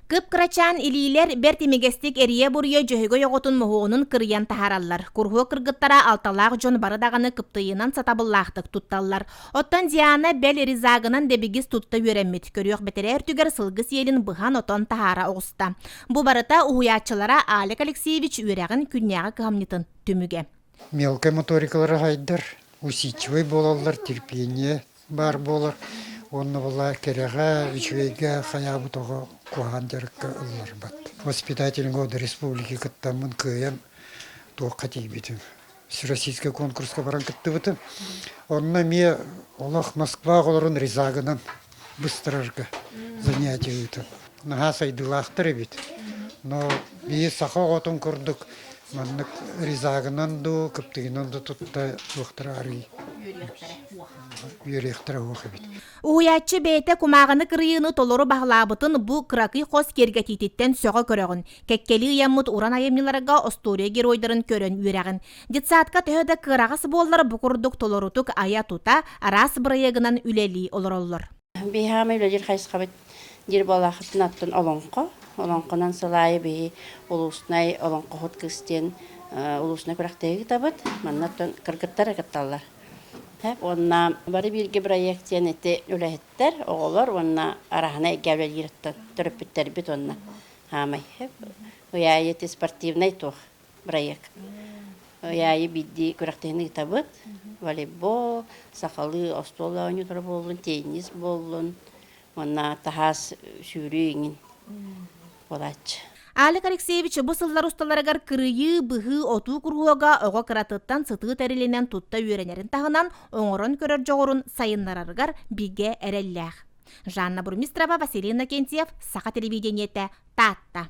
Кып-кырачаан илиилэр бэрт имигэстик эрийэ-буруйа Дьөһөгөй оҕотун моһуогунун кырыйан таһаараллар. Куруһуок кыргыттара алталаах дьон бары даҕаны кыптыйыынан сатабыллаахтык тутталлар. Оттон Диана бэл ризагынан дэбигис тутта үөрэммит. Көрүөх бэтэрээ өртүгэр сылгы сиэлин быһан-отон таһаара оҕуста. Бу барыта уһуйааччылара Алик Алексеевич үөрэҕин күннээҕи кыһамньытын түмүгэ. Мелкай моторикалара сайдар, усидчивай буолаллар, терпение баар буолар уонна була кэрэҕэ үчүгэйгэ хайаабыт оҕо куһаан дьарыкка ылларбат воспитательный год республики кыттаммын кыайан туохха тиийбитим российскай конкурска баран кыттыбытым онно эмиэ олох москва олорон ризагынан быстарарга занятие ыытан наһаа сайдыылаахтар эбит но биир саха оҕотун курдук Маннык ризагынан дуу, кыптыгынан да тутта туохтара арый үөрүйэхтэрэ уох эбит. Уһуйааччы бэйэтэ кумааҕыны кырыйыыны толору баһылаабытын бу кыракый хос киэргэтиититтэн сөҕө көрөҕүн. Кэккэлии ыйаммыт уран айымньыларга остуоруйа геройдарын көрөн үөрэҕин. Детсадка төһө да кыараҕас буоллар бу курдук толорутук айа-тута араас бырайыагынан үлэлии олороллор. Биһаама үлэлиир хайысхабыт диир буолаахытын аттын олоҥхо. Олоҥхонон сыл аайы биһи улуустунай олоҥхоһут кыыс диэн улуустунай күрэхтэһии ыытабыт. Манна оттон кыргыттар кытталлар. Уонна бары бииргэ бырайыак диэн ити үлэһиттэр, оҕолор уонна араһынай эйгэ үлэлиир оттон төрөппүттэрбит уонна хаамай. Ый аайы ити спортивнай туох проект. Яйы бидди күрәхтиһин ыытабыт. Волейбол, сахалыы остуол оонньуулара буоллун, теннис буоллун, уонна таһаас сүүрүү иҥин буолааччы. Алик Алексеевич бу сыллар усталарыгар кырыйыы, быһыы, отуу куруһуога оҕо кыратыттан сытыы тэрилинэн тутта үөрэнэрин таһынан оҥорон көрөр дьоҕурун сайыннарарыгар бигэ эрэллээх. Жанна Бурмистрова, Василий Иннокентьев, Саха телевидениетэ, Таатта.